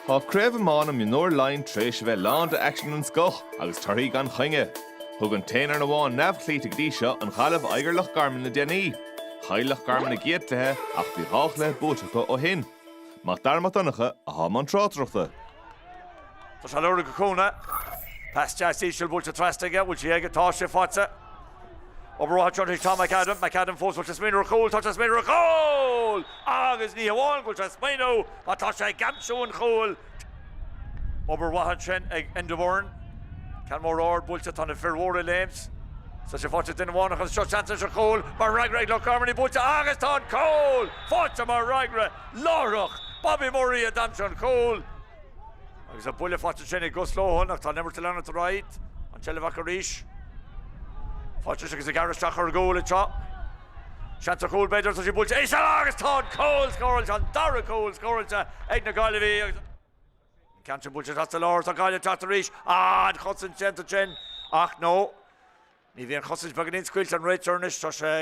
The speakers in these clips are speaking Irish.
Tá Craobh Iomána Mionúir Laighin tar éis a bheith lán de aicsean den scoth agus torthaí gan choinne. Thug an t-aon fhoireann amháin neamhchloíte go dtí seo, an Ghaillimh, aghaidh ar Loch Garman le déanaí. Chaill Loch Garman a gcéad chluiche ach bhí dhá chluiche buaite acu ó shin. Mac Dara Mac Donncha atá i mbun tráchtaireachta. Tá sé ag lorg cúnna. Pas deas íseal buailte trasna aige. Bhfuil sí aige? Tá sí faighte. Obair mhaith ag Tom McAdam. McAdam fós, bhfuil sé ag smaoineamh ar chúl, tá sé ag smaoineamh ar chúl! Agus ní hamháin go bhfuil sé ag smaoineamh ach tá sé ag aimsiú an chúil. Obair mhaith ansin ag Indevoren. Ceann mór ard buailte, tá na fir mhóra ag léimt. Tá sé faighte ag duine amháin ach an seo seans anois ar chúl mar fhreagra ag Loch Garman, í buailte agus tá an cúl faighte mar fhreagra láithreach! Bobby Murray a d'aimsigh an cúl. Agus an buille faighte ansin ag Gus Lohan ach tá an imirt ag leanúint ar aghaidh. An tseilbh acu arís. Faighte arís agus ag gearradh isteach ar chúl anseo. Seans ar chúl b'fhéidir, tá sí buailte íseal agus tá an cúl scóráilte, an dara cúl scóráilte ag na Gaillimhigh agus an ceann sin buailte isteach sa lár. Tá Gaillimh ag teacht arís. Ah, an chosaint déanta ansin ach no, ní bhíonn, an chosaint beagáinín scaoilte, an réiteoir anois, tá sé,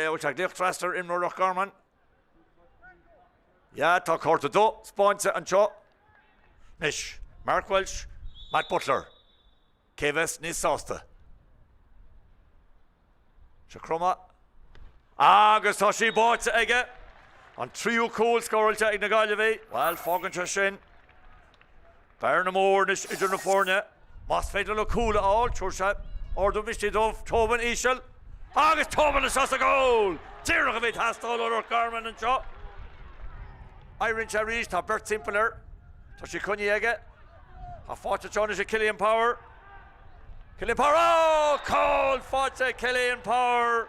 bhuel, tá glaoch trasna ar imreoir Loch Garman. Yeah, tá cárta dubh spáinte anseo anois. Mark Walsh, Matt Butler, cé a bheas níos sásta? Seo cromadh. Agus tá sí báite aige! An tríú cúl scóráilte ag na Gaillimhigh. Bhuel, fágann sé sin. Bearna mór anois idir na foirne, más féidir leo cúl a fháil, tabharfaidh sé ardú misnigh dóibh, Tobin íseal, agus Tobin anseo sa gcúl! Díreach a bhí ag teastáil ó Loch Garman anseo. Éiríonn sé arís, tá beirt timpeall air, tá sí coinnithe aige, tá sí faighte anseo anois ag Cillian Power, Cillian Power, oh! Cúl faighte ag Cillian Power!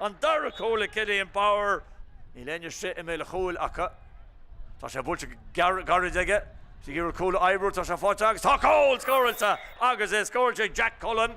An dara cúl ag Cillian Power. Ní ligfidh siad í i mbéal an chúil acu. Tá sé buailte go gairid aige. Is ag iarraidh cúl a oibriú atá sé faighte agus tá cúl scóráilte agus é scóráilte ag Jack Cullen.